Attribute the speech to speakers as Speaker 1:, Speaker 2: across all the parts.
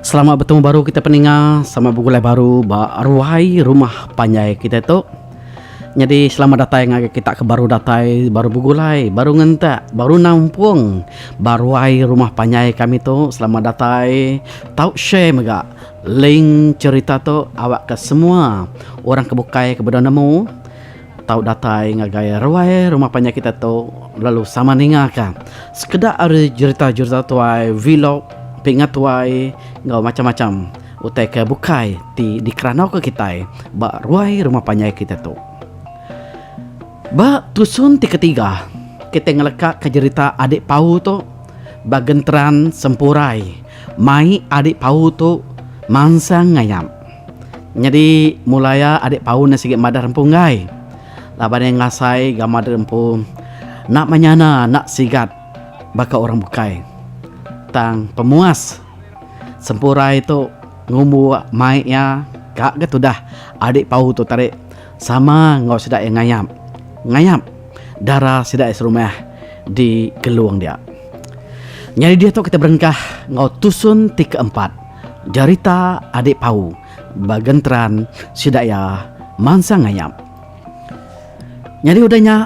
Speaker 1: Selamat betemu baru kita peninga, selamat begulai baru ba ruai rumah panjai kita tu. Nyadi selamat datai ngagai kita ke baru datai, baru begulai, baru ngentak, baru nampung ba ruai rumah panjai kami tu. Selamat datai. Tau share mega link cherita tu awakka semua orang ke bukai ke bedau nemu. tau datai ngagai ruai rumah panjai kita tu lalu sama ninga ka sekeda ari jerita-jerita tuai, vlog, pinga tuai enggau macam-macam utai ke bukai ti dikeranauka kitai ba ruai rumah panjai kita tu. Ba tusun ti ketiga, kitai ngelekaka jerita Adik Pau tu ba genteran sempurai mai Adik Pau tu mansang ngayap. Nyadi mulai iya adik paun iya sigi madah empu enggai. Laban iya ngasai gamal diri empu enda menyana enda sigat baka orang bukai. Tang pemuas sempurai tu ngumbu mai iya ka ga tudah adik paun tu tadi sama enggau sida iya ngayap ngayap dara sida iya serumah di Kelong dia. Nyadi diatu kita berengkah enggau tusun ti keempat. Jarita adik pau ba genteran sida iya mansang ngayap. Nyadi udah nya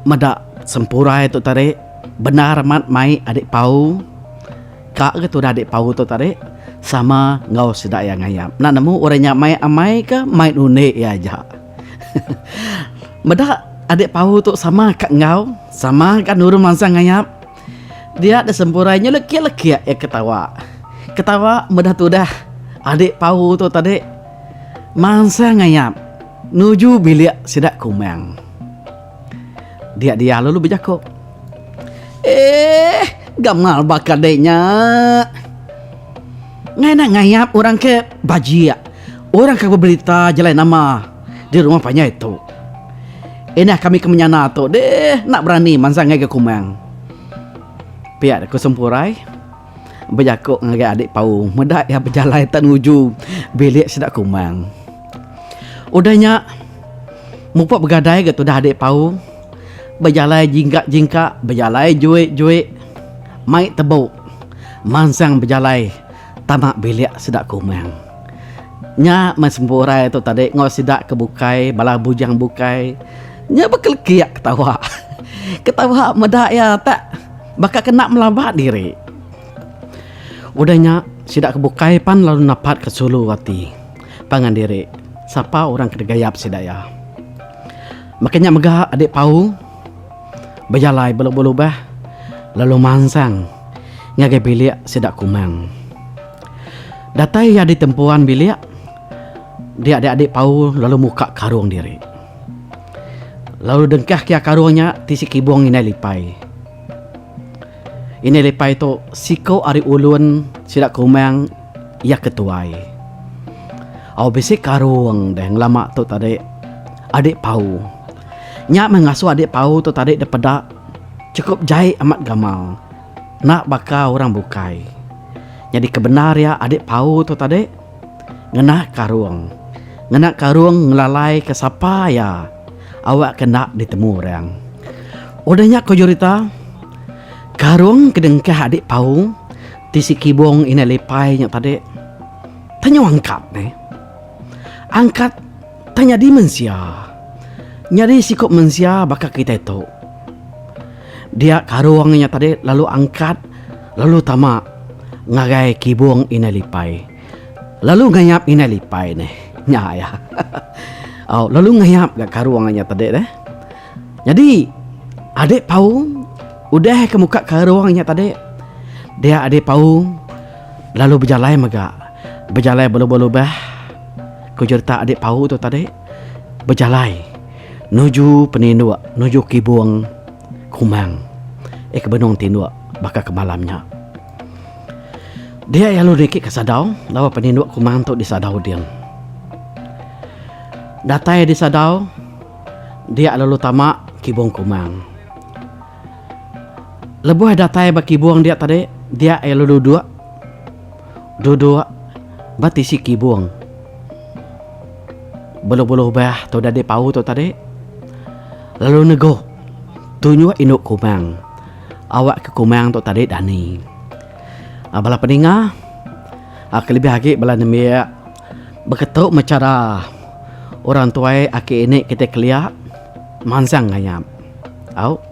Speaker 1: meda sempurai tu tadi bendar amat mai adik pau ka ga tudah adik pau tu tadi sama enggau sida iya ngayap. Enda nemu udah nya mai amai ka mai nundi iya aja. Meda adik pau tu sama ka enggau sama ka nurun mansang ngayap. Dia da sempurai nya lekik-lekik iya ke tawa. Ke tawa meda tudah adi pau tu tadi mansang ngayap nuju bilik sida kumang. Dia dia lalu bejaku. Eh, gamal baka deh nya. Ngaina ngayap orang ke bajik. Orang ke bebelita jalai nama. Di rumah panjai tu. Inah kami ke menyana tu deh enda berani mansang ngagai kumang. Pia ku Sempurai bejaku ngagai adik Pau meda iya bejalai tan uju bilik sida kumang. Udah nya mupa begadai ga tudah adik Pau bejalai jingka jingka bejalai juik juik mai tebu mansang bejalai. Tama bilik sida ke umang. Nya meh sempurai tu tadi enggau sida ke bukai bala bujang bukai. Nya bekelekik ketawa. Ketawa meda iya tak baka kena melaba diri. Udah nya sida ke bukai pan lalu napat ke sulu ati pangan diri sapa orang ke digayap sida iya. Maka nya mega Adik Pau. Bejalai belu belubah lalu mansang ngagai bilik sida Kumang. Datai iya di tempuan bilik, dia diadi pau lalu muka karung diri. Lalu dengkah kia karung nya ti sekibung indai lipai. Indai lipai tu siko ari ulun sida Kumang iya ke tuai. Au bisi karung deh ngelama tu tadi adi pau. Nya meh ngasuh adik Pau tu tadi dipeda chukup jai amat gamal enda baka orang bukai. Nyadi ke bendar iya adik Pau tu tadi ngenah karung. Ngena karung ngelalai ke sapa iya awak ke enda ditemu orang. Udah nya ku jurita karung ke dengkah adik Pau ti si Kibong indai lipai nya tadi tenyau angkat meh. Angkat. tah nyadi mensia. Nyadi siku mensia baka kitai tu. Dia karung nya tadi lalu angkat lalu tama ngagai kibung indai lipai. Lalu ngayap indai lipai nih. Nya iya. Au, lalu ngayap ga karung nya tadi deh. Nyadi Ade Paung udah ke muka karung nya tadi. Dia Ade Paung lalu bejalai mega. Bejalai belubah-lubah. ku jeretak adi pau tu tadi bejalai nuju peninduk nuju kibung Kumang iya ke benung tinduk baka ke malam nya. Dia iya lalu niki ka sadau laban peninduk Kumang tu di sadau ding. Datai di sadau dia lalu tama kibung Kumang. Lebuh datai ba kibung dia tadi dia iya lalu duduk. duduk ba tisi kibung beluh-beluh bah tu dadi pau tu tadi lalu negu tunjuk indu kumang awak ke kumang tu tadi dani um bala peninga um kelebih agi bala nembiak beketu meh chara orang tuai aki ini kiti kelia mansang ngayap au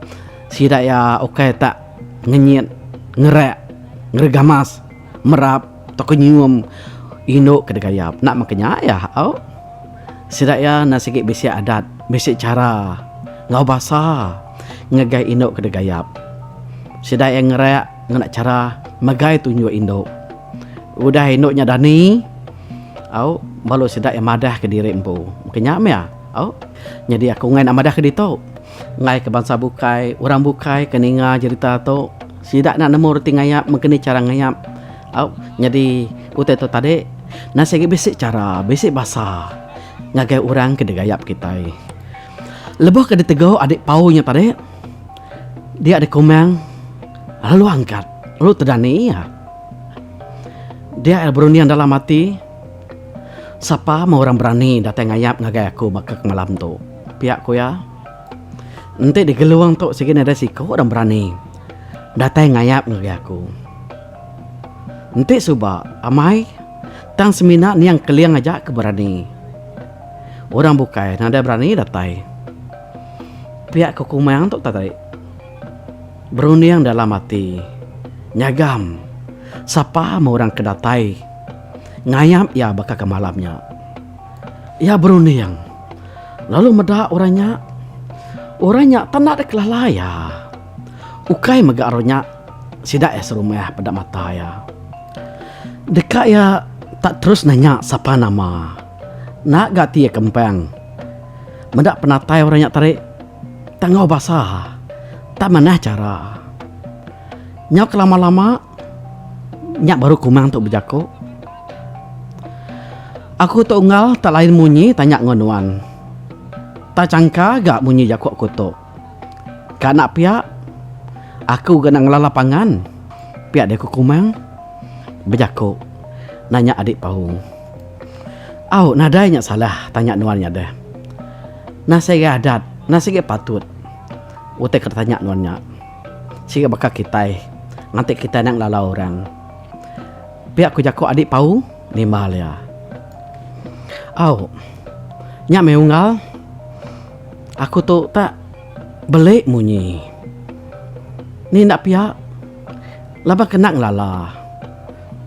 Speaker 1: sida iya ukai tak ngenyit, ngerak, ngeregamas, merap tauka nyium indu ke degayap. Enda mega nya iya au. Sida iya enda sigi bisi adat, bisi chara enggau basa ngagai indu ke degayap. Sida iya ngerak ngena chara megai tunjuk indu. Udah indu nya dani au baru sida iya madahka diri empu. Mungkin nya mih au. Nyadi aku ngena madahka ditu. enggai ke bansa bukai, orang bukai ke ninga jerita tu sida enda nemu reti ngayap meng keni chara ngayap au nyadi utai tu tadi enda sigi bisi chara bisi basa ngagai orang ke digayap kitai. Lebuh ke ditegu adi pau nya tadi dia dikumang lalu angkat lalu tedani iya. Dia ira berunding dalam ati sapa meh orang berani datai ngayap ngagai aku baka malam tu. Piak ku iya, Enti di Gelung tu sigi nadai siku orang berani datai ngayap ngagai aku. Enti suba amai tang semina niang Keling aja ke berani. Orang bukai nadai berani datai. Piak ku Kumang tu tadi berunding dalam ati, Nyagam sapa meh orang ke datai ngayap iya baka ke malam nya. Iya berunding. lalu meda orang nya. Orang nya penda dek lala iya. Ukai mega orang nya sida iya serumah peda mata iya. Deka iya tak terus nanya sapa nama enda ga ti iya kempang. Meda penatai orang nya tadi tak enggau basa tak manah chara. Nyau kelama-lama nya baru kumang tu bejaku. Aku tu unggal tak lain munyi tanya enggau nuan. Tak changka ga munyi jaku aku tu. Ka enda pia, aku ga enda ngelala pangan. Pia deh ku Kumang bejaku nanya Adik Paung. Au, nadai nya salah tanya nuan nya deh. Enda sigai adat, enda sigai patut utai ke ditanya nuan nya. Sigai baka kitai, nganti kitai enda ngelala orang. Pia ku jaku adik Pau nimbal iya. Au. Nya meh unggal. Aku tu tak beli munyi. Ni enda pia. Laban kena ngelala.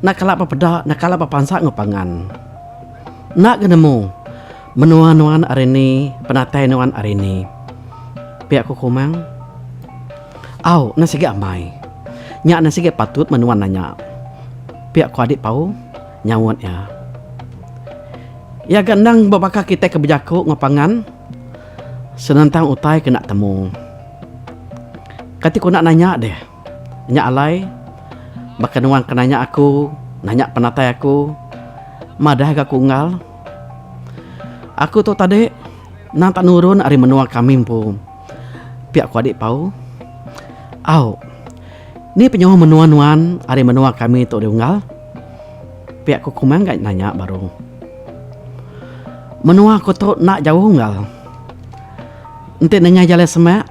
Speaker 1: Enda kala bepeda, enda kala bepansa enggau pangan. Enda ga nemu. Menua nuan ari ni, penatai nuan ari ni? Pia ku Komang. Au, nan sigi amai. Nya nan sigi patut men nuan nanya. Pia ku Adik Pau nyaut iya. Iya ga endang bebaka kitai ke bejaku enggau pangan senentang utai ke enda temu. Kati ku enda nanya deh. Nya alai baka nuan ke nanya aku, nanya penatai aku, madah ga aku unggal. Aku tu tadi endang tak nurun ari menua kami empu, pia ku Adik Pau. Au, ni penyauh menua nuan ari menua kami tu diunggal? pia ku Kumang ga nanya baru. Menua aku tu enda jauh unggal. Enti nengah jalai semak,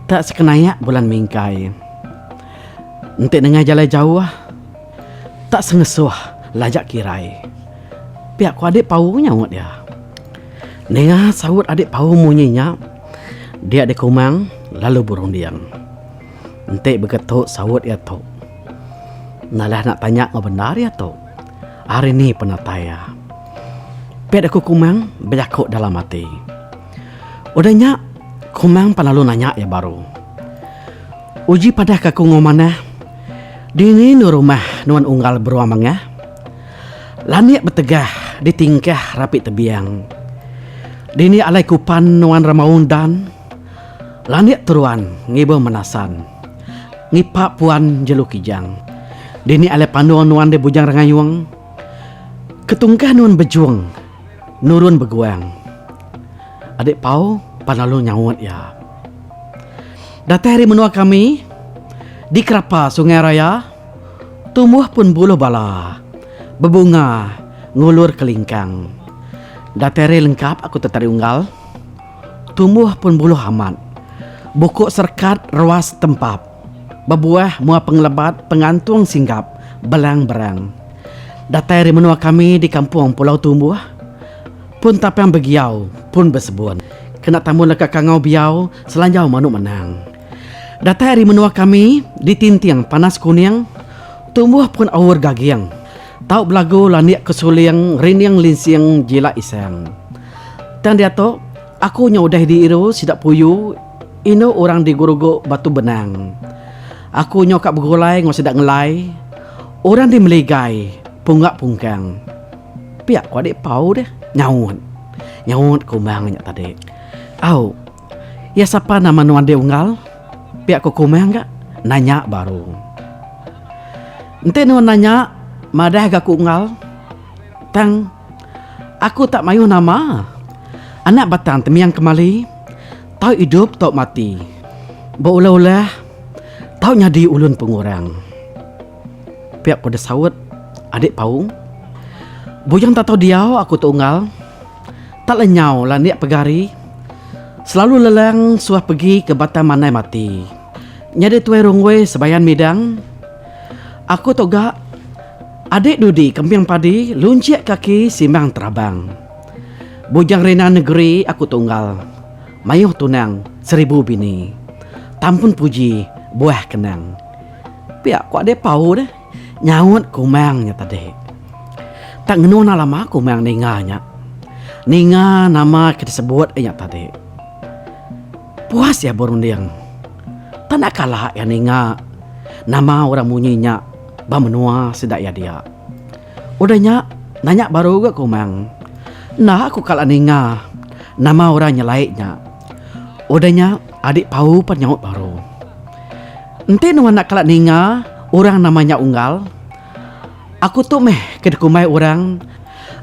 Speaker 1: tak sekenayak Bulan Mingkai. Enti nengah jalai jauh, Tak sengesuh lajak kirai. Pia ku adik Pau nyaut iya. Ninga saut adik Pau munyi nya, dia dikumang lalu berunding. Enti begetu saut iya tu. Nalah enda tanya enggau bendar iya tu. Ari ni penatai iya. Pia deh ku Kumang bejaku dalam ati. Udah nya, Kumang pan lalu nanya iya baru. Uji padah ka ku ngau manah. Dini nu rumah nuan unggal beruang mangah? Lanik betegah di tingkah rapi tebiang. Dini alai kupan nuan ramaung dan? Lanik teruan ngibung menasan. Ngipak puan jelu kijang. Dini alai panung nuan di bujang rengayung? Ketungkah nuan bejung nurun beguang. Adik Pau pan lalu nyaut iya. Datai ari menua kami, di kerapa sungai raya, tumbuh pun buluh bala, bebunga, ngulur ke lingkang. Datai ari lengkap aku tetari unggal, tumbuh pun buluh amat, buku serekat ruas tempap, bebuah mua pengelebat pengantung singgap belang berang. Datai ari menua kami di kampung pulau tumbuh, Pun tapang begiau, pun besebun. Kena tamun leka kangau biau, selanjau manu menang. Datai ari menua kami, di Tinting, Panas Kuning, tumbuh pun aur gaging. Tau belagu landik ke suling, rining linsing jila isang. Tang diatu, aku nya udah diiru sida puyu indu orang di Gurugu Batu Benang. Aku nya ka begulai enggau sida ngelai, orang di Meligai, Punggak Pungkang. Pia ku adik pau deh nyaut. Nyaut Kumang nya tadi. Au. Iya sapa nama nuan deh Unggal? Pia ku Kumang ga nanya baru. Enti nuan nanya madah ga ku Unggal. Tang aku tak mayuh nama. Anak batang temiang kemali tau idup tau mati. Beulah-ulah tau nyadi ulun pengurang. Pia ku desaut adik Paung. Bujang tak tau diau aku tu unggal. Tak lenyau lah nia pegari. Selalu lelang suah pegi ke batang manai mati. Nyadi tuai rungui sebayan midang. Aku tu ga adik dudi kembing padi lunchik kaki simbang terabang. Bujang rina negeri aku tu unggal. Mayuh tunang seribu bini. Tampun puji buah kenang. Pia ku Ade Pau deh nyaut kumang nya tadi. Tak ngenu nah lama kumang ninga nya. Ninga nama ke disebut inya tadi. Puas iya berunding. Tak enda kala iya ninga nama orang munyi nya ba menua sida iya dia. Udah nya, nanya baru ga ku Umang. Enda aku kala ninga nama orang nyelai nya. Udah nya, adik Pau pan nyaut baru. Enti nuan enda kala ninga orang nama nya Unggal, aku tu meh ke dikumbai orang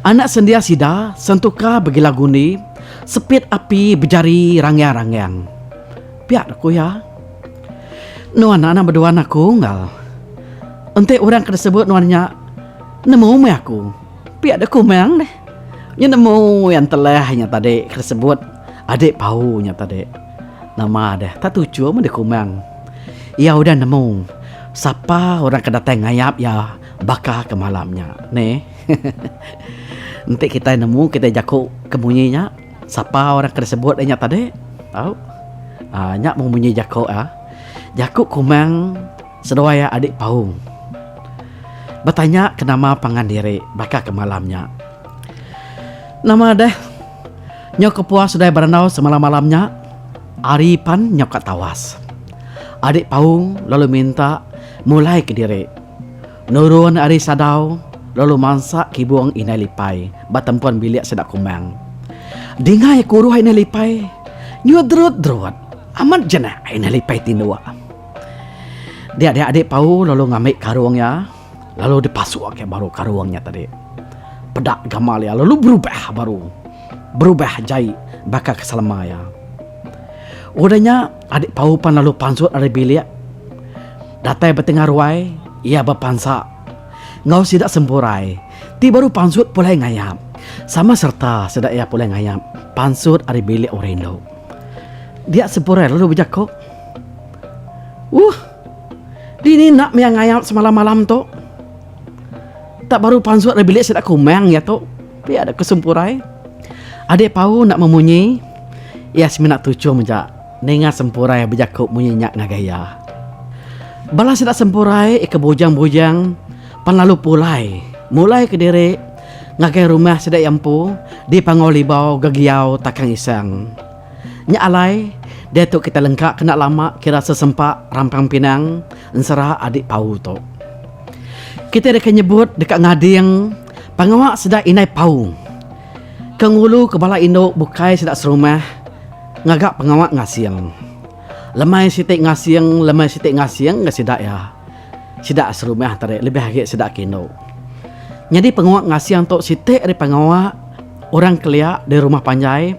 Speaker 1: anak sendia sida sentuka begila gundi sepit api bejari rangiang-rangiang. Pia doh ku iya. Nuan anak bedua anak aku enggal. Enti orang ke disebut nuan nya nemu meh aku, pia deh ku meng deh. Nya nemu iya entelah nya tadi ke disebut adik pau nya tadi. Nama deh tak tuchum meh deh ku meng. Iya udah nemu sapa orang ke datai ngayap iya baka ke malam nya neh. Enti kitai nemu kitai jaku ke munyi nya. Sapa orang ke disebut inya tadi? Au. Aa nya mung munyi jaku a. Jaku Kumang seduai iya adik Paung. Betanya ke nama pangan diri baka ke malam nya. Nama deh. Nyau kepuas seduai berandau semalam-malam nya. Ari pan nyau ka tawas. Adik Paung lalu minta mulai ke diri. Nurun ari sadau, lalu mansak kibung Indai Lipai ba tempun bilik sida Kumang. Dingai kuruh Indai Lipai, nyudrut-drut amat je nah Indai Lipai tinduk. Dia dia adi Pau lalu ngambi karung iya, lalu dipasuk iya baru karung iya tadi. Peda gamal iya lalu berubah baru. Berubah jai baka ke selama iya. Udah nya. Adik Pau pan lalu pansut ari bilik. Datai betengah ruai, iya bepansa. Enggau sida sempurai, ti baru pansut pulai ngayap. Sama sereta sida iya pulai ngayap pansut ari bilik orang indu. Dia sempurai lalu bejaku, Wuh! Dini enda mih iya ngayap semalam-malam tu? Tak baru pansut ari bilik sida kumang iya tu. Ti ada ke sempurai. Adik Pau enda memunyi. Iya semina tuchum aja ninga sempurai bejaku munyi nya ngagai iya. Bala sida sempurai ke bujang-bujang pan lalu pulai mulai kediri ngagai rumah sida iya empu di Panggau Libau, Gegiau, Takang Isang. Nya alai diatu kitai lengka ke enda lama kira sesempa rampang pinang ensera adik Pau tu. Kitai deka nyebut deka ngading. Pengawa sida indai paung ke ngulu ke bala indu bukai sida serumah ngaga pengawa ngasing. Lemai siti ngasing lemai siti ngasing ga sida iya. Sida serumah tadi lebih agi sida ke indu. Nyadi pengawa ngasing tu siti ari pengawa orang kelia di rumah panjai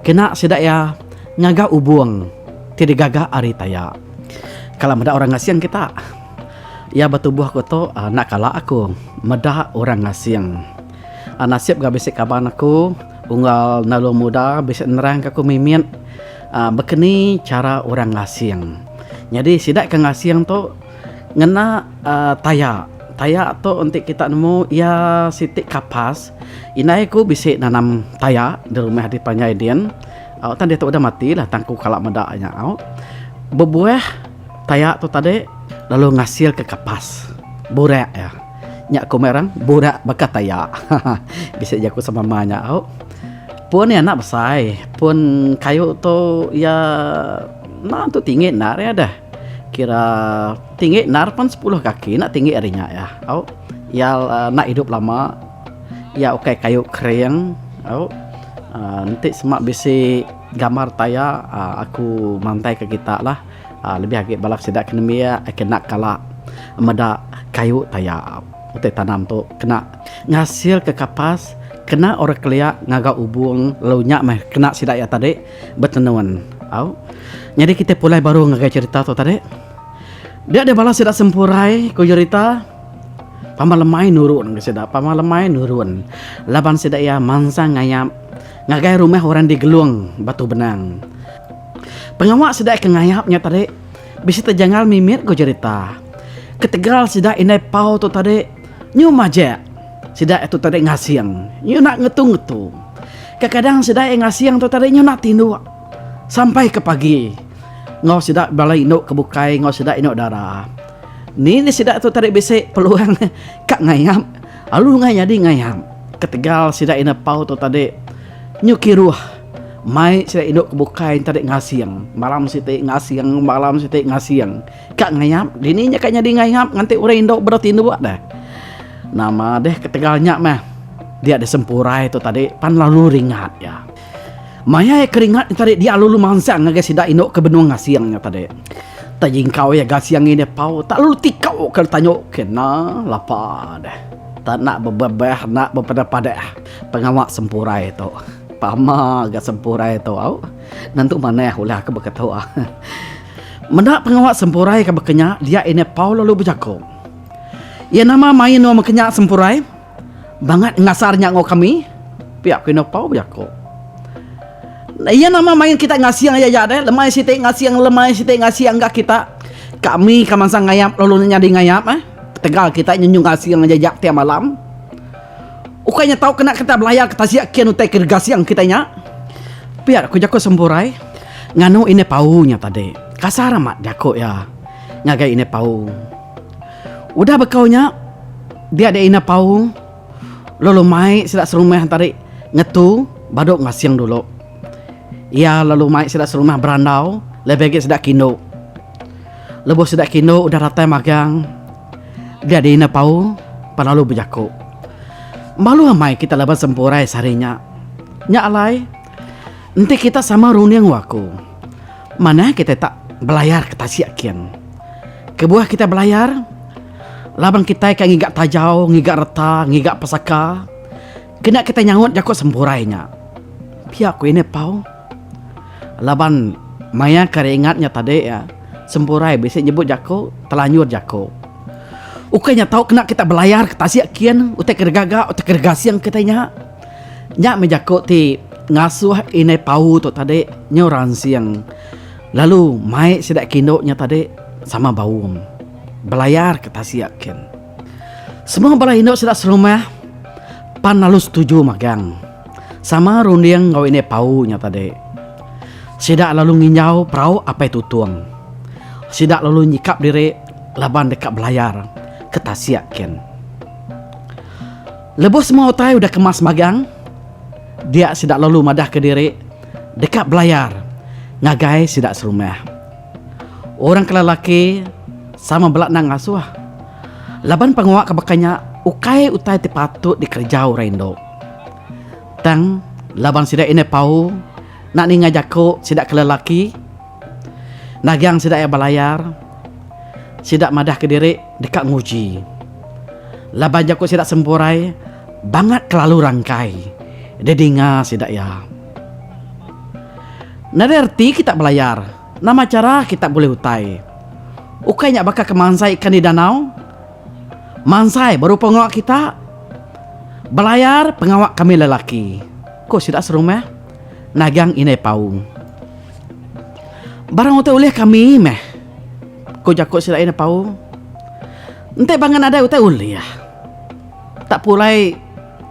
Speaker 1: kena sida iya ngaga ubung ti digaga ari taya. Kala meda orang ngasing kita. Iya betubuh aku tu enda kala aku meda orang asing. Nasib ga bisi kaban aku unggal enda ulun muda bisi nerangka aku mimit bekeni chara orang asing. Nyadi sida ke ngasing tu ngena taya, taya tu enti kita nemu iya siti kapas. Indai aku bisi nanam taya di rumah adi panjai din. Au tang diatu udah mati lah tang aku kala meda nya au. Bebuah. Tayak tu tadi lalu ngasilka kapas. Burak iya. Nya ku meh orang, burak baka tayak. Haha. Bisi jaku semama nya au. Pun iya enda besai. Pun kayu tu iya enda tentu tinggi endar iya deh. Kira tinggi endar pan sepuluh kaki enda tinggi ari nya iya au. Iya enda idup lama. Iya ukai kayu kering au. Enti sema bisi. Gambar taya aku mantai ke kita lah lebih agi bala sida ke nembiak ai kena kala meda kayu taya utai tanam tu kena ngasil ke kapas kena orang kelia ngaga ubung lalu nya meh kena sida iya tadi betenun au nyadi kita pulai baru ngagai cherita tu tadi dia deh bala sida sempurai ku cherita pama lemai nurun ke sida pama lemai nurun laban sida iya mansang ngayap. Ngagai rumah orang di Gelung, Batu Benang. Pengawa sida ke ngayap nya tadi bisi tejangal mimit ku jerita. Ketegal sida indai pau tu tadi nyu majak sida tu tadi ngasing nyu enda ngetu-ngetu. Kekadang sida iya ngasing tu tadi nyu enda tinduk sampai ke pagi enggau sida bala indu ke bukai enggau sida indu dara. Ni sida tu tadi bisi peluang ka ngayap. Alu ngai nyadi ngayang. Ketegal sida ina pau tu tadi nyu kiruh mai sida indu ke bukai ntadi ngasing malam siti ngasing malam siti ngasing ka ngayap dini nya ka nyadi ngayap nganti orang indu bedau tinduk deh. Nama deh ketegal nya meh dia disempurai tu tadi pan lalu ringat iya. Maya iya keringat nya tadi dia lalu mansang ngagai sida indu ke benung asing nya tadi. Tang jingkau iya ga siang ngini pau tak lalu tikau ke tanyo kena lapa deh. Tak nak bebebeh nak bepedah-padah pengawa sempurai tu. Pama ga sempurai tu au nentu manah ulah ke baka tu. Meda pengawa sempurai ke baka nya dia ini pau lalu bejaku. Iya nama mai anu baka nya sempurai? Bangat ngasar nya enggau kami, pia ku Ino Pau bejako. Iya nama main kita ngasing aya nya deh, lemai siti ngasing lemai siti ngasing enggah kita. Kami ka mansang ngayap lalu nya nyadi ngayap eh. Ketegal kita nyenyu ngasing aja nya tiap malam. Ukai nya tau kena kita belayar ke tasik kin utai ke gasing kita nya. Pia ku jaku Semburai nganu Inai Pau nya tadi. Kasar amat jaku iya ngagai Inai Pau. Udah bekau nya, dia dia Ina Paung lalu mai sida serumah entari ngetu badu ngasing dulu. Iya lalu mai sida serumah berandau lebih agi sida kindu. Lebuh sida kindu udah datai magang, dia dia Ina Paung pan lalu bejaku, Malu amai kita laban sempurai sehari nya. Nya alai. Enti kita sama runding waku, manah kita tak belayar ke tasik kin. Kebuah kita belayar, laban kitai ka ngiga tajau, ngiga reta, ngiga pesaka, kena kita nyaut jaku sempurai nya. Pia ku ini pau. Laban maya ke ari ingat nya tadi iya, sempurai bisi nyebut jaku telanjur jaku. Ukai nya tau kena kita belayar ke tasik kin utai ke regaga, utai ke regasing kitai nya. Nya meh jaku ti ngasuh indai pau tu tadi nyau ransing lalu mai sida kindu nya tadi sama baum belayar ke tasik kin. Semua bala indu sida serumah pan lalu setuju magang sama runding enggau indai pau nya tadi. Sida lalu nginjau perau Apai Tutong. Sida lalu nyikap diri laban deka belayar ke tasik kin. Lebuh semua utai udah kemas magang, dia sida lalu madahka diri deka belayar ngagai sida serumah. Orang ke lelaki sama bela endang ngasuh laban pengawa ke baka nya ukai utai ti patut dikereja orang indu. Tang laban sida indai pau nak ninga jaku sida ke lelaki. Nagang sida iya belayar, sida madahka diri deka nguji. Laban jaku sida sempurai bangat kelalu rangkai didinga sida iya. Nadai reti kita belayar, nama chara kita bulih utai? Ukai nya baka ke mansai ikan di danau? Mansai berupa enggau kita, belayar pengawa kami lelaki, ku sida serumah Nagang indai Pau. Barang utai ulih kami meh, ku jaku sida iya nepau. Enti bangah nadai utai ulih, tak pulai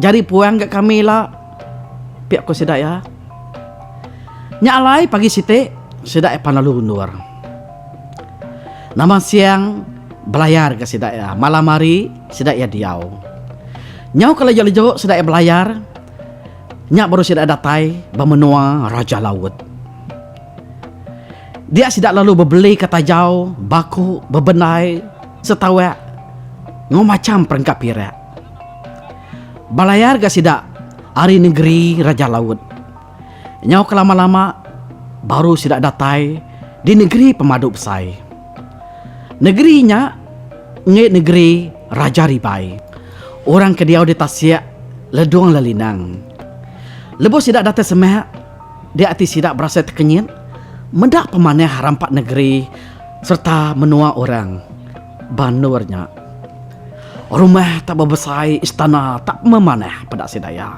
Speaker 1: jari puang ga kami ila, pia ku sida iya. Nya alai pagi siti sida iya pan lalu undur. Nama siang belayar ga sida iya, malam hari sida iya diau. Nyau ke leju-leju sida iya belayar Nya baru sida datai ba menua Raja Laut. Dia sida lalu bebelika tajau, baku, bebendai, setauak enggau macham perengka pirak. Balayar ga sida ari nengeri Raja Laut. Nyau ke lama-lama baru sida datai di nengeri pemadu besai. Negeri nya enggai negeri Raja Ribai. Orang ke diau di tasik Ledong Lelinang. Lebuh sida datai semak, dia ati sida berasai tekenyit meda pemanah rampa negeri sereta menua orang Banur nya. Rumah tak bebesai, istana tak memanah peda sida iya.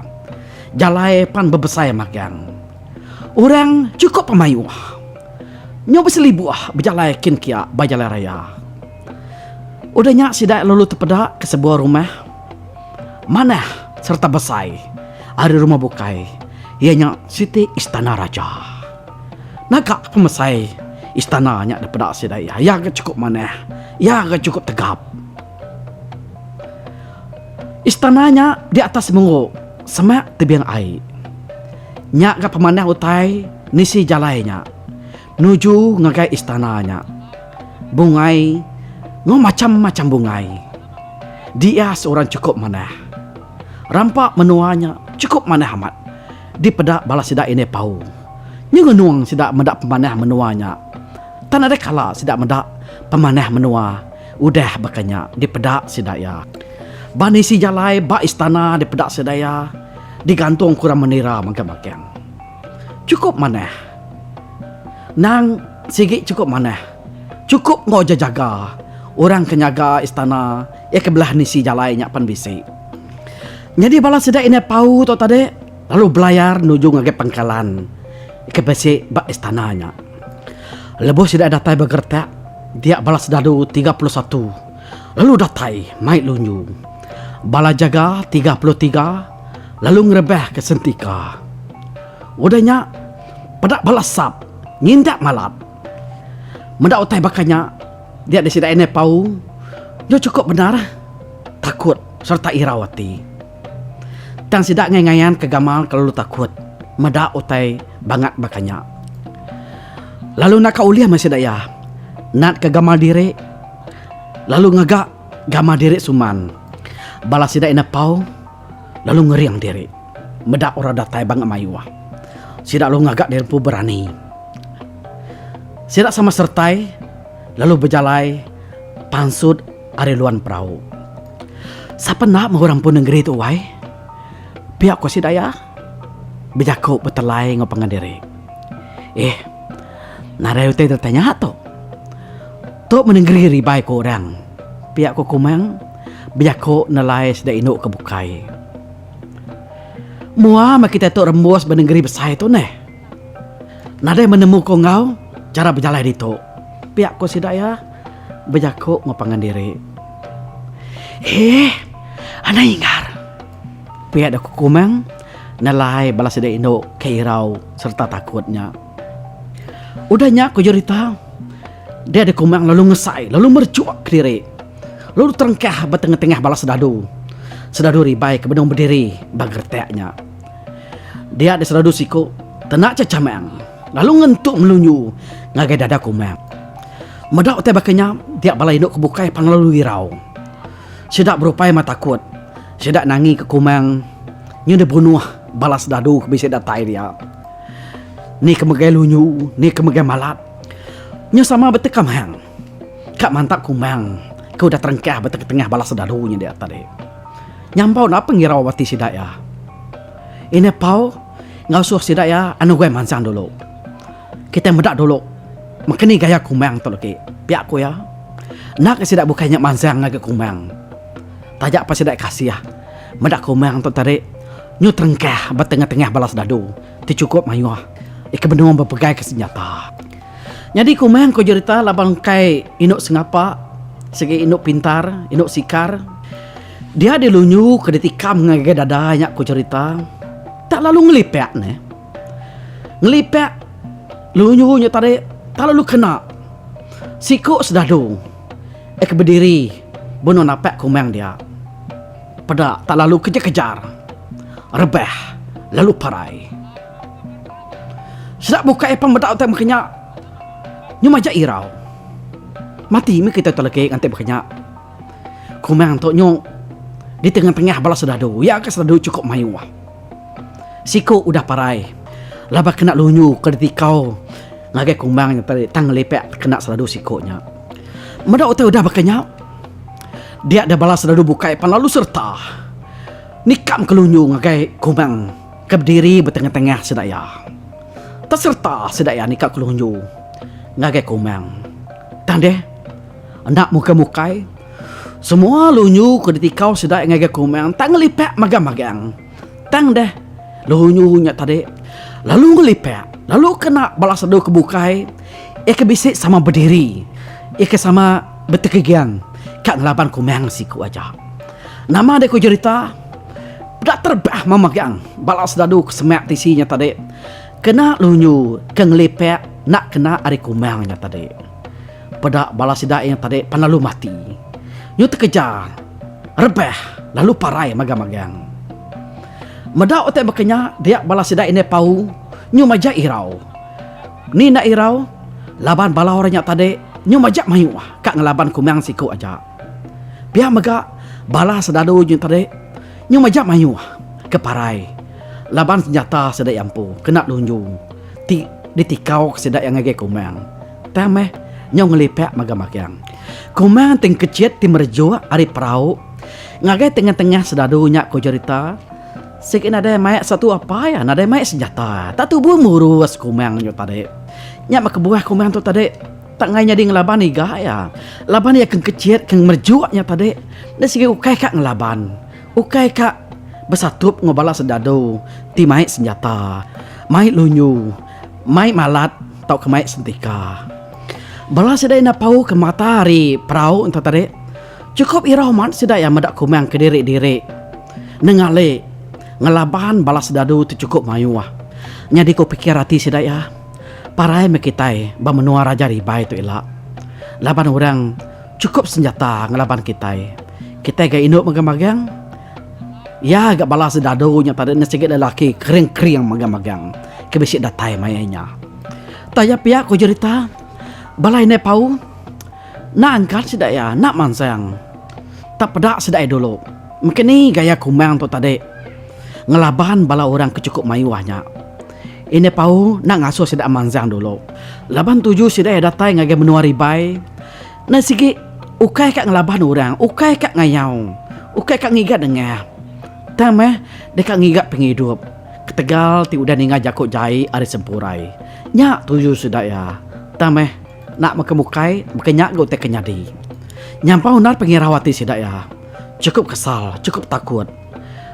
Speaker 1: Jalai pan bebesai magang. Orang chukup pemayuh. Nyau beselibuh bejalai kin kia ba jalai raya. Udah nya sida lalu tepeda ke sebuah rumah manah sereta besai ari rumah bukai iya nya siti istana raja. Naga ke pemesai istana nya dipeda sida iya ga chukup manah, iya ga chukup tegap. Istana nya di atas muruk semak tebing ai. Nya ga pemanah utai nisi jalai nya nuju ngagai istana nya. Bungai enggau macham-macham bungai diias orang chukup manah. Rampa menua nya chukup manah amat dipeda bala sida indai pau. Nyengenung sida meda pemanah menua nya. Tan ada kala sida meda pemanah menua. Udah baka nya dipeda sida iya. Ba nisi jalai ba istana dipeda sida iya digantung kurang menira mega bakeng. Chukup manah. Nang sigi chukup manah. Chukup enggau ja jaga. Orang ke nyaga istana iya ke belah nisi jalai nya pen bisi. Nyadi bala sida indai pau tu tadi lalu belayar nuju ngagai pangkalan ke bisi ba istana nya. Lebuh sida datai ba geretak, dia bala sedadu tiga puluh satu lalu datai mai lunyu. Bala jaga tiga puluh tiga lalu ngerebahka sentika. Udah nya, peda bala sap ngindak malat. Meda utai baka nya, dia disida Inai Paung deh chukup bendar takut sereta irau ati. Tang sida ngai ngayan ke gamal kelalu takut meda utai bangat baka nya. Lalu naka ulih meh sida iya natka gamal diri lalu ngaga gamal diri suman bala sida ina pau lalu ngering diri meda orang datai bangat mayuh. Sida lalu ngaga diri empu berani. Sida sama sertai lalu bejalai pansut. Ari luan perau. Sapa enda meh orang empu nengeri tu wai. Pia ko sida iya bejaku betelai enggau pangan diri. Eh narai utai deka nya tu. Tu meh nengeri ribai ku orang. Pia ko Kumang bejaku nelai sida indu ke bukai. Mua meh kita tu rembus ba nengeri besai tu neh. Nadai menemu ko enggau chara bejalai ditu. Pia ko sida iya bejako enggau pangan diri. Eeh anang inggar. Pia dau ko Kumang nelai bala sida indu ke irau serta takut nya. Udah nya ko Jurita dia dau Kumang lalu ngesai lalu merechok kediri lalu terengkah ba tengah-tengah bala sedadu. Sedadu ribai ke benung bediri ba geretak nya. Dia di seradu siku tenak ca camang lalu ngentuk melunyu ngagai dada kumat. Meda utai baka nya dia bala indu ke bukai pang lalu irau. Sida berupai amat takut. Sida nangi ke kumang nyu dibunuh bala sedadu ke bisi datai dia. Ni ke megai lunyu, ni ke megai malat. Nya sama beteka mehang. Ka mantap kumang, ke udah terengkah ba tenga-tengah bala sedaru nya dia tadi. Nyambau enda apa ngirau ati sida iya. Ina pau ngasuh sida iya anu guai mansang dulu. Kitai meda dulu maka ni gaya kumang tu legi, pia ku iya. Enda ka sida bukai nya mansang ngagai kumang. Taja pa sida kasih meda kumang tu tadi nyu terengkah ba tenga-tengah bala sedaru ti chukup mayuh ika benung bepegai ke senjata. Nyadi kumang ko jerita laban engkai indu sengapa sigi indu pintar, indu sikar. Dia dilunyu ke ditikam ngagai dada nya ko jerita tak lalu ngelipak neh. Ngelipak lunyu nya tadi tak lalu kena siku sedadu ke bediri benung napak kumang dia. Peda tak lalu kejar-kejar rebah lalu parai. Sida bukai apan meda utai meh kenya. Nyu majak irau. Mati mih kita tu lagi nganti meh kenya. Kumang tu nyu di tengah-tengah bala sedadu. Iya ka sedadu chukup mayuh. Siku udah parai laban kena lunyu ke ditikau ngagai kumang nya tadi tang ngelipak tekena sedadu siku nya. Meda utai udah baka nya, dia deh bala sedadu bukai apan lalu sereta nikam ke lunyu ngagai kumang. Ke bediri betengah-tengah sida iya. Tak sereta sida iya nika kelunju ngagai kumang. Tang deh, enda mukai-mukai, semua lunju ke ditikau sida iya ngagai kumang tak ngelipak magang-magang. Tang deh, lunju nya tadi lalu ngelipak lalu kena bala sadu ke bukai iya ke bisi sama bediri, iya ke sama betegegang ka ngelaban kumang siku aja. Nama deh ku jerita? Peda terbah memegang bala sdadu ke semak tisi nya tadi kena lunyu ke ngelipak enda kena ari kumang nya tadi. Peda bala sida nya tadi pan lalu mati. Nyu tekeja rebah lalu parai magang-magang. Meda utai baka nya dia bala sida indai pau nyu majak irau. Ni enda irau laban bala orang nya tadi nyu majak mayuh ka ngelaban kumang siku aja. Pia mega bala selalu nyu tadi nyu majak mayuh ke parai laban senjata sida iya empu kena lunju ti ditikau ke sida iya ngagai Komang. Tang meh nyau ngelipak mega magang. Komang ti engkechit ti merejuk ari perau ngagai tengah-tengah selalu nya ko cherita sigi nadai mai satu apai iya nadai mai senjata. Tak tubu murus Komang nyu tadi. Nya meh kebuah Komang tu tadi. Tanggai nyadi ngelaban iga iya. Laban iya ke engkecit, ke ngemerjuk nya tadi. Enda sigi ukai ka ngelaban. Ukai ka besatup enggau bala sendadu ti mai senjata, mai lunyu, mai malat tauka mai sentika. Bala sida enda pau ke mata ari perau ento tadi. Chukup irau man sida iya meda kumang kediri-diri. Nengale ngelaban bala sendadu ti chukup mayuh. Nyadi ku pikir ati sida iya. Parai meh kitai ba menua Raja Ribai tu ila. Laban orang chukup senjata ngelaban kitai. Kitai ga indu megang-megang. Iya ga bala sedadu nya tadi enda sigi lelaki kering-kering megang-megang ke bisi datai maya nya. Taya pia ku jerita bala indai pau. Enda angkat sida iya, enda mansang. Tap peda sida iya dulu. Mega ni gaya kumbang tu tadi. Ngelaban bala orang ke chukup mayuh nya. Indai Pau enda ngasuh sida mansang dulu. Laban tuju sida iya datai ngagai menua Ribai, endai sigi ukai ka ngelaban orang, ukai ka ngayau, ukai ka ngiga nengah, tang meh deka ngiga pengidup ketegal ti udah ninga jaku jai ari sempurai. Nya tuju sida iya, tang meh. Enda mega bukai, baka nya ga utai ke nyadi. Nyampau undar pengirau ati sida iya. Chukup kesal, chukup takut.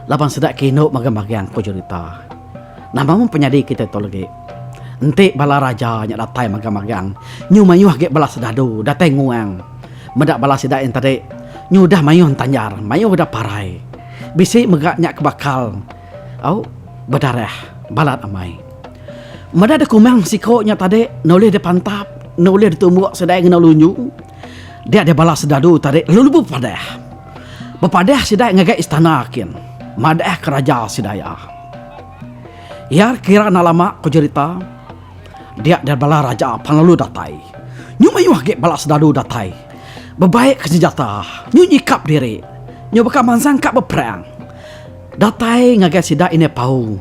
Speaker 1: Laban sida ke indu magang-magang, ku Julita. Nama meh penyadi kitai tu legi. Enti bala raja nya datai magang-magang, nyu mayuh agi bala sedadu datai nguang. Meda bala sida yen tadi, nyu udah mayuh entanjar, mayuh udah parai. Bisi mega nya ke bakal. Au, bedarah balat amai. Meda dekumang siko nya tadi nulih dipantap, nulih ditumbuk sidai ngena lunyu. Dia dia bala serdadu tadi lalu lebuh bepadah. Bepadah sidai ngagai istana kin. Madah ke raja sidai iya. Iya kira enda lama ku jerita, dia dia bala raja pan lalu datai. Nyu mayuh agi bala serdadu datai bebaik senjata, nyu nyikap diri, nyu baka mansang ka beperang. Datai ngagai sida Indai Pau.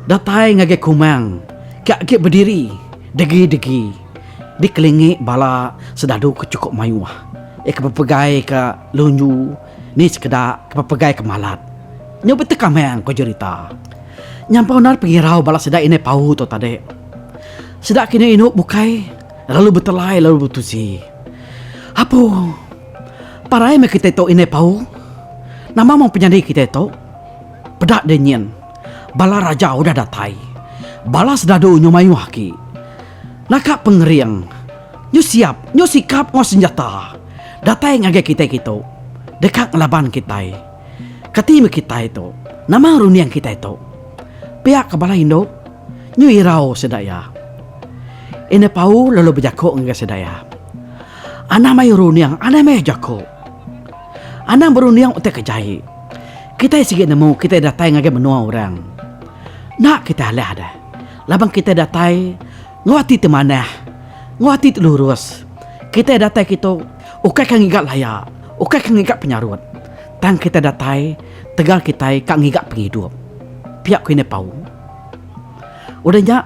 Speaker 1: Datai ngagai Kumang ke agi bediri degi-degi dikelingi bala Sedadu ke chukup mayuh, iya ke bepegai ke lunyu ni sekeda ke bepegai ke malat. Nyau betekamang ko jerita. Nyampau endar pengirau bala sida Indai Pau tu tadi. Sida ke inu-inu bukai lalu betelai lalu betusi. Apu. Parai meh kitai tu indai Pau. Nama meh penyadi kitai tu. Peda deh nyin. Bala raja udah datai. Bala sedadu nyu mayuh agi. Naka pengering. Nyu siap, nyu sikap enggau senjata. Datai ngagai kitai kitu. Deka ngelaban kitai. Kati meh kitai tu. Nama runding kitai tu. Pia ke bala indu. Nyu irau sida iya. Indai Pau lalu bejaku ngagai sida iya. Anang mayuh runding, anang mayuh jaku. Anang berunding utai ke jai. Kitai sigi nemu kitai datai ngagai menua orang. Enda kitai alah deh. Laban kitai datai enggau ati ti manah, enggau ati ti lurus. Kitai datai kitu ukai ka ngiga laya, ukai ka ngiga penyarut. Tang kitai datai tegal kitai ka ngiga pengidup. Pia ku Indai Paung. Udah nya,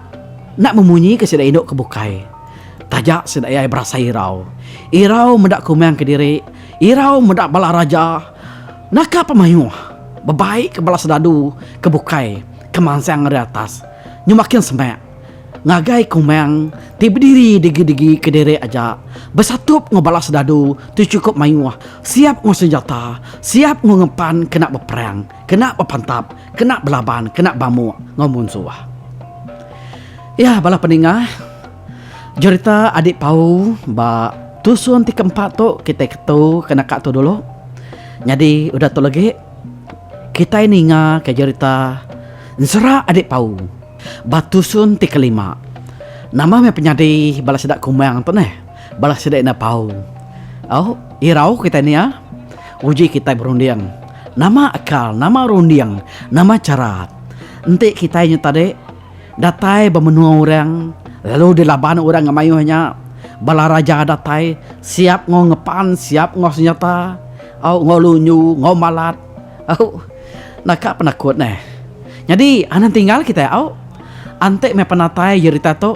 Speaker 1: enda memunyika sida indu ke bukai. Taja sida ai berasai irau. Irau meda kumang kediri, irau meda bala raja. Naka pan mayuh, bebaika bala serdadu ke bukai ke mansang ari atas nyu makin semak ngagai kumang ti bediri digi-digi kediri aja besatup enggau bala serdadu ti chukup mayuh, siap enggau senjata, siap enggau ngempan kena beperang, kena bepantap. kena belaban, kena bamuk enggau munsuh. Iya bala peningah, jerita Adik Pau ba tusun ti keempat tu kitai ketu ke naka tu dulu. Nyadi udah tu legi kitai ningaka jerita Ensera Adik Pau ba tusun ti kelima. Nama meh penyadi bala sida kumang tu neh. Bala sida enda tau. Au, irau kitai nia. Uji kitai berunding. Nama akal, nama runding, nama chara. Enti kitai nya tadi datai ba menua orang lalu dilaban orang enggau mayuh nya, bala raja datai siap enggau ngepan, siap enggau senjata, au, enggau lunyu, enggau malat. Au, enda ka penakut neh. Nyadi anang tinggal kitai, au. Enti meh penatai jerita tu.